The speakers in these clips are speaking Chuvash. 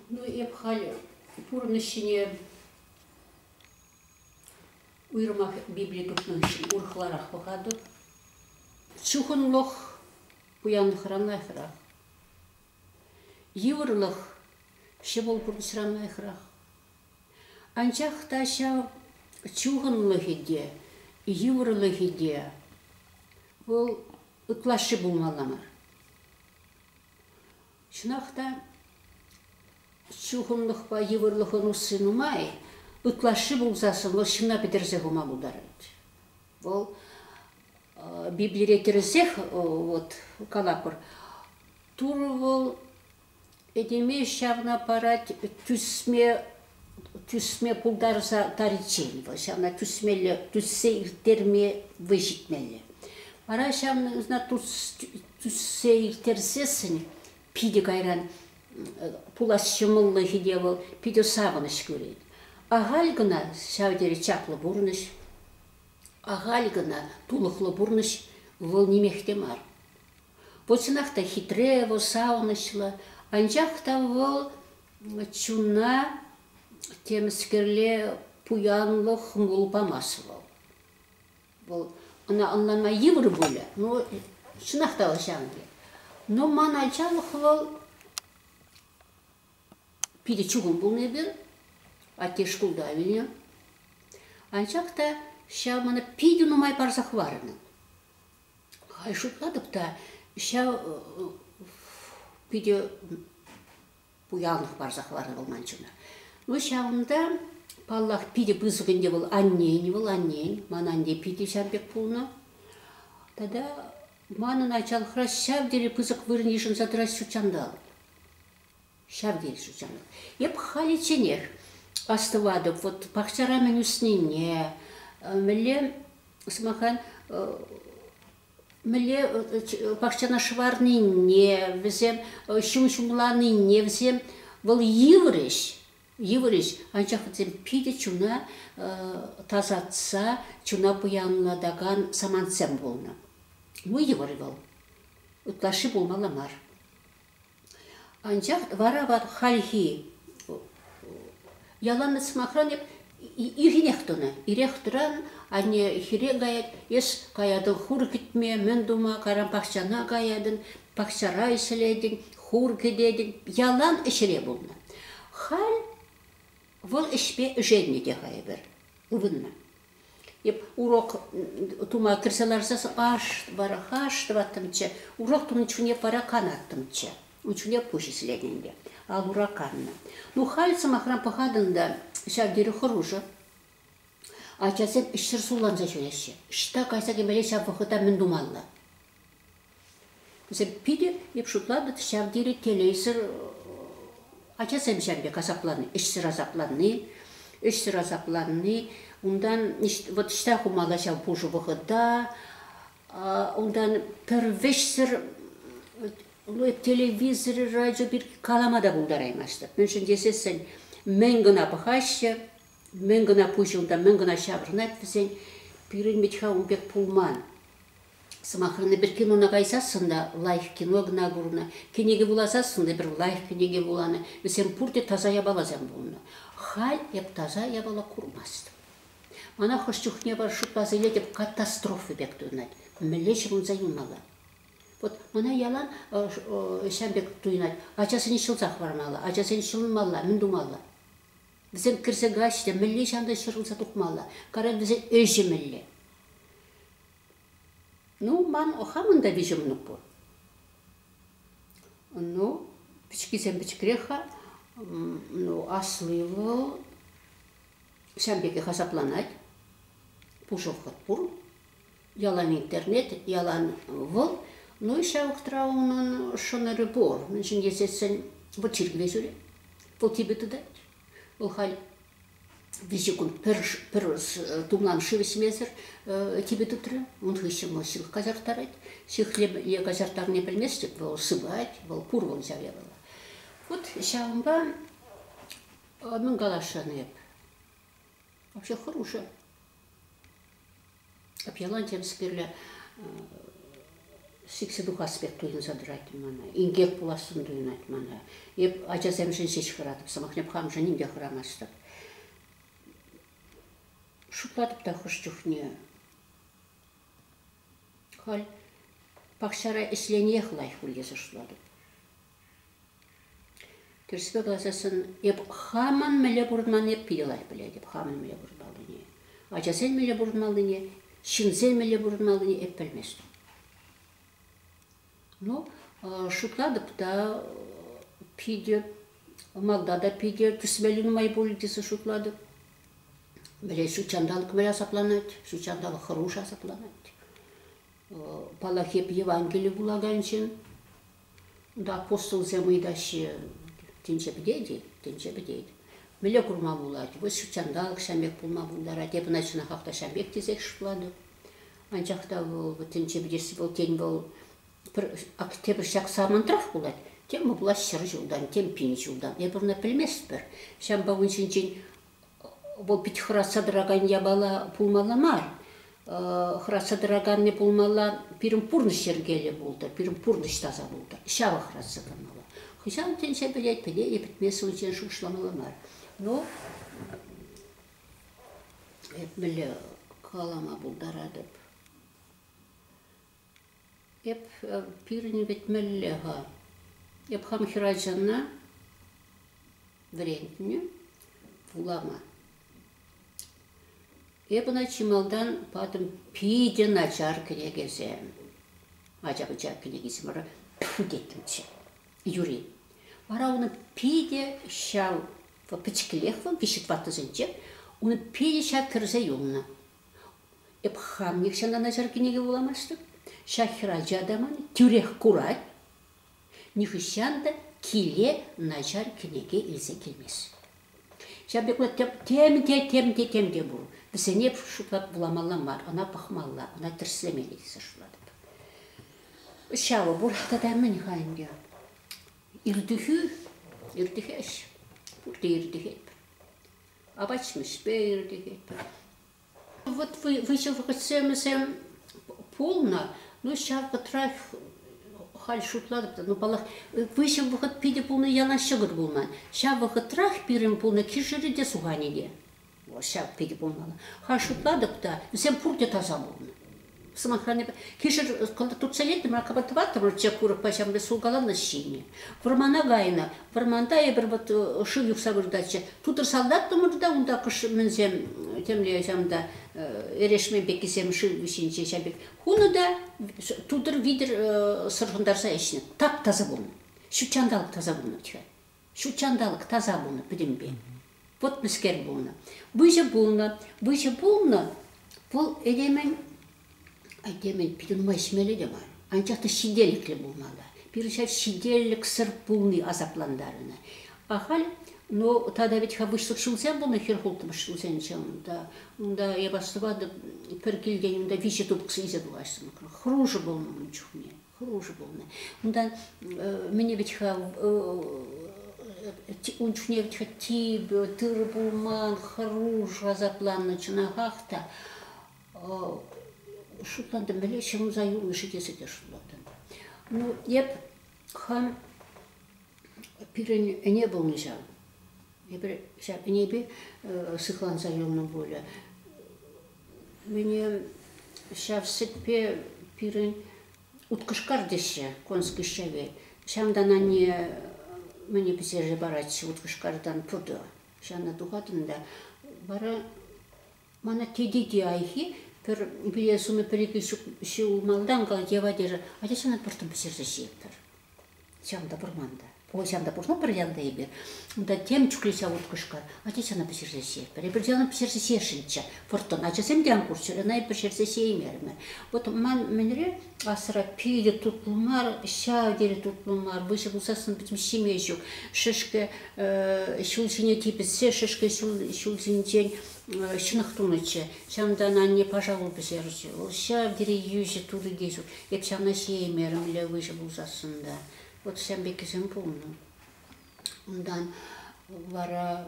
Ну, эп халӗ пурӑнӑҫ ҫине уйрӑмах Библи тупнӑ хыҫҫӑн урӑхларах пӑхатӑп. Чухӑнлӑх пуянлӑхран лайӑхрах. Йывӑрлӑх ҫӑмӑл пурнӑҫран лайӑхрах. Анчах та ҫав чухӑнлӑхӗ те, йывӑрлӑхӗ те вӑл ытлашши пулмалла мар. Чӑнах та чухӑнлӑхпа йывӑрлӑхӑн усси нумай, ытлашши пулсассӑн вӑл ҫынна пӗтерсе хӑма пултарать. Вӑл Библире тӗрӗсех вот калатпӑр, Турӑ вӑл Этеме ҫавна парать тӳсме тӳсме пултарса тариччен вӑл ҫавна тӳсмелле тӳссе ирттерме вӑй ҫитмелле. Вара ҫавна тӳссе ирттерсессӗн питӗ кайран пулас ҫӑмӑллӑхӗ те вӑл питӗ савӑнӑҫ кӳрет. Ахаль кӑна ҫав тери чаплӑ пурнӑҫ, ахаль кӑна тулӑхлӑ пурнӑҫ вӑл нимех те мар. Ку чӑнах та хитре, вӑл савӑнӑҫлӑ, анчах та вӑл чуна темӗскерле пуянлӑх хӑмӑл памасть вӑл. Вӑл ӑна ӑнланма йывӑр пулӗ, ну чӑнах та вӑл ҫамки. Но ман ачалӑх вӑл питӗ чухӑн пулнӑ эпир, атте шкулта вилнӗ. Анчах та ҫав мана питӗ нумай парса хӑварнӑ. Халь шутлатӑп та, ҫав питӗ пуянлӑх парса хӑварнӑ вӑл ман чуна. Ну ҫавӑнта, паллах, питӗ пысӑк ӗнтӗ вӑл аннен, вӑл аннен, ман анне питӗ ҫав пек пулнӑ. Тата манӑн ачалӑхра ҫав тери пысӑк вырӑн йышӑнса тӑрать ҫут ҫанталӑк. Ҫав тери ҫутҫантӑк. Эп халичченех астӑватӑп вот пахчара мӗн ӳснине, мӗнле, сӑмаха, мӗнле пахчана шӑварнине, вӗсем ҫум ҫумланине, вӗсем вӑл йывӑрӗҫ, йывӑрӗҫ, анчах вӗсем питӗ чуна тасатса, чуна пуянлатакан самантсем пулнӑ. Ну, йывӑр вӑл. Ытлашши пулмалла мар. Анчах вара ват хальхи яланах сӑмахран эп ирӗнех тӑнӑ. Ирех тӑран, анне хире каять, эс каятӑн хур кӗтме, мӗн тума, кайран пахчана каятӑн, пахчара ӗҫлетӗн, хур кӗтетӗн. Ялан ӗҫре пулнӑ. Халь вӑл ӗҫпе ӗшеннӗ те-ха эпир, ывӑннӑ. урок тума кӗрсе ларса аш вара аш тӑваттӑмччӗ урок тунӑ чухне вара канаттӑмччӗ ун чухне пуҫ исленӗ ал ура каннӑ ну халь сӑмахран пӑхатӑн та ҫав тери хӑрушӑ ачасем ӗҫсӗр сулланса ҫӳреҫҫӗ ӑҫта кайса кӗмелле ҫав вӑхӑта мӗн тумалла Вӗсем питӗ эп шутлатӑп ҫав тери телейсӗр ачасем ҫав пек асапланни, ӗҫсӗр асапланни, ӗҫсӗр асапланни. Унтан вот ӑҫта хумалла ҫав пушӑ вӑхӑта, унтан пӗр вӗҫсӗр ну, телевизор, радио пирки калама та пултараймастӑп. Мӗншӗн тесессӗн мӗн кӑна пӑхаҫҫӗ, мӗн кӑна пуҫӗ унта, мӗн кӑна ҫаврӑнать вӗсен. Пирӗн вӗт-ха ун пек пулман. Сӑмахран, эпир кинона кайсассӑн та лайӑх кино кӑна курнӑ, кӗнеке вуласассӑн эпир лайӑх кӗнеке вуланӑ, вӗсем пурте таса япаласем пулнӑ. Халь эп таса япала курмастӑм. Мана хӑш чухне пар шутласа илетӗп катастрофа пек туйӑнать. Мӗнле ҫыхӑнса юлмалла? Вот мана ялан ҫавӑн пек туйӑнать, ачасене ҫӑлса хӑвармалла, ачасене ҫӑлмалла, мӗн тумалла? Вӗсем кӗрсе каҫҫӗ те мӗнле ҫантан ҫӑрӑлса тухмалла? Кара, вӗсен ӗҫӗ мӗнле? Ну, ман хамӑн та виҫӗ мӑнук пур. Ну, пӗчӗккисем пӗчӗкрех-ха. Ну, асли вӑл ҫавӑн пекех асапланать. Пушӑхӑт пур. Ялан интернет, ялан вӑл. Ну и ҫав вӑхӑтра унӑн шӑнӑрӗ пур. Мӗншӗн тесессӗн вӑл чиркӗве ҫӳрет. Вӑл типӗ тытать. Вӑл халь виҫӗ кун пӗр, пӗр тумлам шыв ӗҫмесӗр типӗ тытрӗ. Ун хыҫҫӑн вӑл ҫылӑх каҫарттарать. Ҫыхле е каҫарттарни пӗлместӗп, вӑл сыпать, вӑл курӑн ҫав япала. Вот ҫавӑнпа мӗн каласшӑн эп. Вообще хорошая. Ялан темскерле сиксе тухас пек туйӑнса тӑрать мана. Инкек пулассӑн туйӑнать мана. Эп ачасемшӗн ҫеҫ хӑратӑп, сӑмахне пӑхамшӑн ним те хӑрамастӑп. Шутлатӑп та хӑш чухне. Халь пахчара ӗҫлениех лайӑх пуль тесе шутлатӑп. Тӗрӗспе калаҫасшӑн эп хамӑн мӗнле пурӑнман эп питӗ лайӑх пӗлетӗп хамӑн мӗнле пурӑнмаллине. Ачасен мӗнле пурӑнмаллине, ҫынсен мӗнле пурӑнмаллине эп пӗлместӗп. Ну, шутлатӑп та питӗ малта та питӗ тӗсмелли нумай пулӗ тесе шутлатӑп. Вӗлет ҫут ҫанталӑк мӗн асапланать, ҫут ҫанталӑк хӑруш асапланать. Паллах, эп Евангели вулакан ҫын. апостолсем ыйтаҫҫӗ, тӗнче пӗтет-и? Тӗнче пӗтет. Мӗнле курма пулать? Вӑл ҫут ҫанталӑк ҫав пек пулма пултарать. Эп ӑна чӑнах та ҫав пек тесех шутлатӑп. Анчах та вӑл тӗнче пӗтесси вӑл, тен, вӑл пӗр тепӗр ҫак самантрах пулать, тем вӑл пулать ҫӗр ҫултан, тем пин ҫултан. Эпир ӑна пӗлместпӗр. Ҫавӑнпа ун ҫинчен Вӑл пит хӑратса тӑракан япала пулмалла мар. Хӑратса тӑраканни пулмалла, пирӗн пурнӑҫ йӗркеллӗ пултӑр, пирӗн пурнӑҫ таса пултӑр. Ҫавӑ хӑратса тӑмалла. Хӑҫан тӗнче пӗлет, пӗлет-и, пӗтме сывлӑхӗнчен шухӑшламалла мар. Ну, эп мӗнле калама пултаратӑп? Эп пирӗн вӗтмелле-ха. Эп хам хӗрачана вӗрентнӗ вулама. Эп ӑна чи малтан патӑм питӗ начар кӗнекесе. Ача-пӑча кӗнекисем теттӗмччӗ юри. Вара унӑн питӗ ҫав пӗчӗклех вӑл виҫӗ ваттӑсенче, унӑн питӗ ҫав кӗрсе юлнӑ. Эп хам нихҫанлана ҫар кӗнеке вуламастӑп. Ҫак хӗрача та ман тӳрех курать. Нихӑҫан та киле начар кӗнеке илсе килмест. Ҫав пек вӑл тем те, тем те, тем те пур. Вӗсене шутлап вуламалла мар, ӑна пӑхмалла, ӑна тӗрӗслемелле тесе шутлатӑп. Ҫавӑ пур. Тата мӗн-ха ӗнтӗ? Иртӗхӳ, иртӗхеҫ. Пурте иртӗхет. апат ҫимӗҫпе ирӗлетпӗр. Вот выҫӑ вӑхӑтсемсем пулнӑ, ну ҫав вӑхӑтрах халь шутлатӑп та, ну паллах, выҫӑ вӑхӑт питӗ пулнӑ яла ҫӑкӑр пулман. Ҫав вӑхӑтрах пирӗн пулнӑ кишӗрӗ те суханӗ те. Ҫав питӗ пулмалла. Халь шутлатӑп та, вӗсем пурте таса пулнӑ. сӑмахран, кишӗр кӑнтӑр туртса илтӗмӗр, акапа тӑваттӑмӑр чек курӑкпа ҫамрӑк сулкаланнӑ ҫине. Вӑрмана кайнӑ. Вӑрманта эпир вот шыв юхса выртатчӗ. Тутӑр салтаттӑмӑр та унта кӑшмӗнсем темле ҫамта эрешмен пеккисем шыв вӗҫӗнче ҫав пек хунӑ та тутӑр витӗр сӑрхӑнтарса ӗҫнӗ. Тап таса пулнӑ. Ҫут ҫанталӑк таса пулнӑ. Ҫутҫанталӑк таса пулнӑ, пӗтӗмпе путнӑскер пулнӑ. Выҫӑ пулнӑ. Выҫӑ пулнӑ. Вӑл этемӗн, этемӗн питӗ нумай ҫимелле те мар. Анчах та ҫителӗклӗ пулма та. Пирӗн ҫав ҫителӗксӗр пулни асаплантарӑнӑ. А халь, ну, тата вӗт-ха выҫлӑх ҫулсем пулнӑ, хӗр хултӑмӑш ҫулсенче унта, унта эп астӑватӑп, пӗр килтен унта виҫӗ тупӑксӑ илсе тухаҫсем. Хӑрушӑ пулнӑ ун чухне. хӑрушӑ пулнӑ. Унтан мӗне вӗт-ха ун чухне вӗт типӗ, тырӑ пулман, хӑруш асапланнӑ чӑнахах та. Шутлантӑм, мӗнле ҫӑмса юлнӑ-ши тесе те шутлатӑм. Ну, эп хам пирӗн ӗне пулнӑ ҫав. Эпир ҫав ӗнепе сыхланса юлнӑ пулӗ. Мӗне ҫав сӗтпе пирӗн уткӑшкар теҫҫӗ, конский шевель. Ҫантан анне мӗне пӗҫерсе паратчӗ уткӑшкартан пуртӑ. Ҫавна тухатӑн та вара мана тете те айхи пӗр пире сунӑ пӗр-икӗ ҫул ҫулмалтан калать, Ева, тесе, атя ҫанат пӑртӑм пӗҫерсе ҫиетпӗр. Чам та пырман та. Ой, чам та пурна пӗр янта эпир. Унта тем чухлеҫа уткӑшка. Ачачана пӗҫерсе ҫиетпӗр. Эпир чана пӗҫерсе ҫиесшӗнччӗ. Вӑрттӑн ачасем те ан курччӑр, ӑна эпир пӗҫерсе ҫиеймерӗмӗр. Вот ман мӗнре асра питӗ тутлӑ мар, ҫав тери тутлӑ мар. Выҫӑ пулсассӑн пӗтӗм ҫиме ҫук. Шӗшкӗ ҫул ҫине типӗссе шӗшкӗ ҫул, ҫул ҫинчен ҫынах тунӑччӗ. Ҫавӑнтан анне паша пул пӗҫерчӗ. Вӑл ҫав тери йӳҫӗ, турри те ҫук. Эп ҫавна ҫиеймерӗм, лев выҫӑ пулсассӑн та. Вот ҫын пеккисем пулнӑ. Унтан вара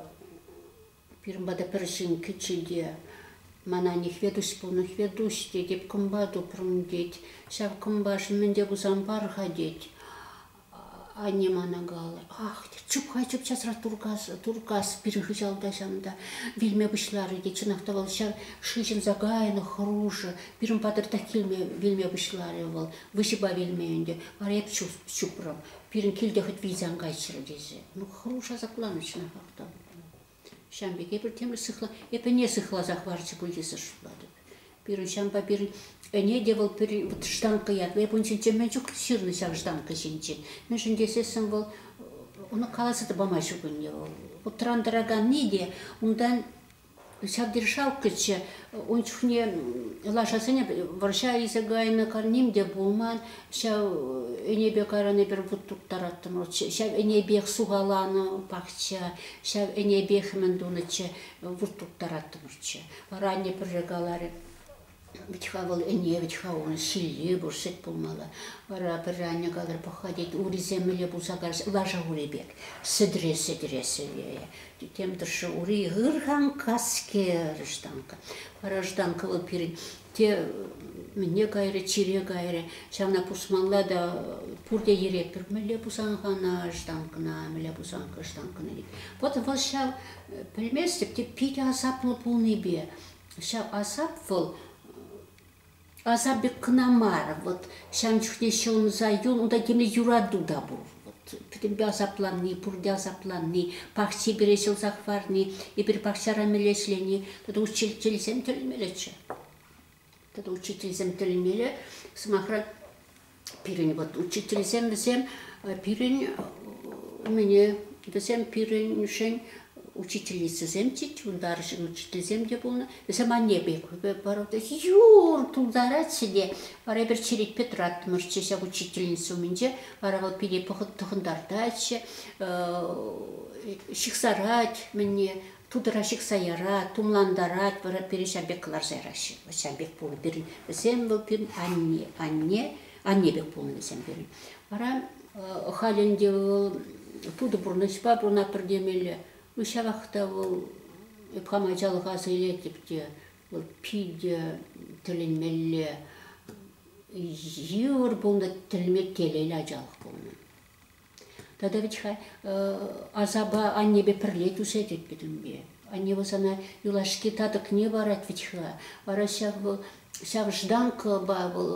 пирӗн пата пӗр ҫын кӗчӗ те мана Нихветуҫ пул, Нихветуҫ тет, эп кӑмпа тупрӑм тет. Ҫав кӑмпашӑн мӗн те пулсан пар-ха тет. Анне мана каларӗ, ах, чуп-ха чуп часрах туркас, туркас пирӗн хыҫалта ҫав та вилме пуҫларӗ те чӑнах та вӑл ҫав шыҫӑнса кайнӑ хӑрушӑ. Пирӗн патӑртах килме вилме пуҫларӗ вӑл. Выҫӑпа вилме ӗнтӗ. Вара эп чупрӑм. Пирӗн килте хӑть вилсе ан кайччӑр тесе. Ну, хӑруш асапланнӑ чӑнахах та. Ҫавӑн пек эпир темле сыхла... Эп ӗне сыхласа хӑварчӗ пуль тесе шутлатӑп. Пирӗн ҫавӑнпа пирӗн ӗне те вӑл пирӗн вот штанка ятпа. Эп ун ҫинчен мӗн чух ҫырнӑ ҫав штанка ҫинчен. Мӗншӗн тесессӗн вӑл ӑна каласа та пама ҫук ӗне вӑл. Утран тӑраканни те унтан ҫав державкӑччӗ ун чухне лашасене вӑрҫа илсе кайнӑ ним те пулман. Ҫав ӗнепе карани пӗр вут турттараттӑм вӑл. Ҫав ӗнепех сухаланӑ пахча, ҫав ӗнепех мӗн тунӑччӗ, вут турттараттӑмӑрччӗ. Вара анне пӗрре каларӗ, вӗт-ха вӑл ӗне, вӗт-ха унӑн ҫилли пур, сӗт пулмалла. Вара пӗрре анне каларӗ, пӑх-ха, тет, урисем мӗнле пулса кайрӗҫ, лаша ури пек, сӗтӗре, сӗтӗре сӗвейӗ. Тем тӑршшӗ ури ыр-хан каскер, штанка. Вара штанка вӑл пирӗн те мӗне кайрӗ, чире кайрӗ. Ҫавна пусмалла та пурте йӗретпӗр. Мӗнле пусанкӑ ӑна штанкӑна, мӗнле пусанкӑ штанкӑна. Вот вӑл ҫав, пӗлместӗп те питӗ асаплӑ пулнипе. Ҫав асап вӑл асап пек кӑна мар. Вот ҫавӑн чухне ҫӑлӑнса юл, унта темле юрату та пур. пӗтӗмпе асапланни, пурте асапланни, пахчи пире ҫӑлса хӑварни, эпир пахчара меле ӗҫлени тата учительсем тӗлмеретчӗ. Тата учительсем тӗлмеле, сӑмахран, пирӗн вот учительсем вӗсем пирӗн умне вӗсем пирӗншӗн учительницӑсем тет, вунтарӑшӗн учительсем те пулнӑ. Вӗсем анне пек борода юр тултаратчӗ те. Вара эпир черетпе тӑраттӑмӑрччӗ ҫак учительница умӗнче. Вара вӑл пире тӑхӑнтартатчӗ, ҫыхсарать мӗнне, тутӑра ҫыхса ярать, тумлантарать, вара пире ҫав пек кӑларса яраҫҫӗ. Ҫав пек пулнӑ пирӗн. Вӗсем вӑл пирӗн анне, анне, анне пек пулнӑ вӗсем пирӗн. Вара халь ӗнтӗ вӑл путӑ пурнӑҫпа пурӑнатпӑр темелле. Ну ҫавах та вӑл эп хам ачалӑха сийлетӗп те, вӑл питӗ тӗлӗнмелле йывӑр пулнӑ, тӗлме телейлӗ ачалӑх пулнӑ. Тата вӗт-ха асапа аннепе пӗрле тӳсе тетпӗт ӳнпе. Анне вӑл сана юлашки татӑкне парать вӗт-ха. Вара ҫав вӑл ҫав жданкӑпа вӑл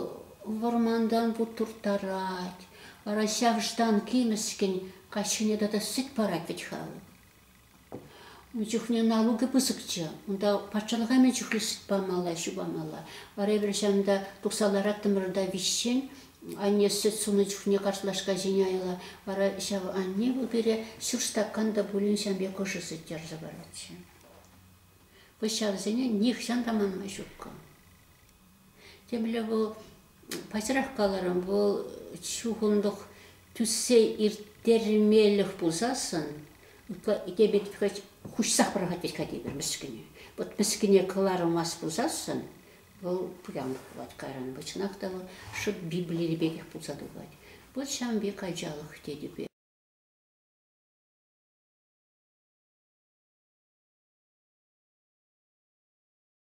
вӑрмантан турттарать. Вара ҫав жданки мӗскӗн каҫхине тата сӗт парать вӗт-ха вӑл. Ун чухне налукӗ пысӑкчӗ. Унта патшалӑха мӗн чухлӗ сӗт памалла, ҫу памалла. Вара эпир ҫавӑнта тухса лараттӑмӑр та виҫҫен. Анне сӗт сунӑ чухне картлашка ҫине айла. Вара ҫав анне вӑл пире ҫур стакан та пулин ҫам пек ӑшӑ сӗт ярса паратчӗ. Пӑҫҫалсене нихҫан та манма ҫуккӑ. Темле вӑл, паҫӑрах каларӑм, вӑл чухӑнлӑх тӳссе ирттермелӗх пулсассӑн тепӗр хӑть хуҫса пӑрахать тет-ха тепӗр мӗскӗне. Вӑт мӗскӗне кӑлармасть пулсассӑн вӑл пуянлӑх пулать кайран. Вӑл чӑнах та вӑл шӑп Библири пекех пулса тухать. Вӑл ҫав пек ачалӑх тетӗпе.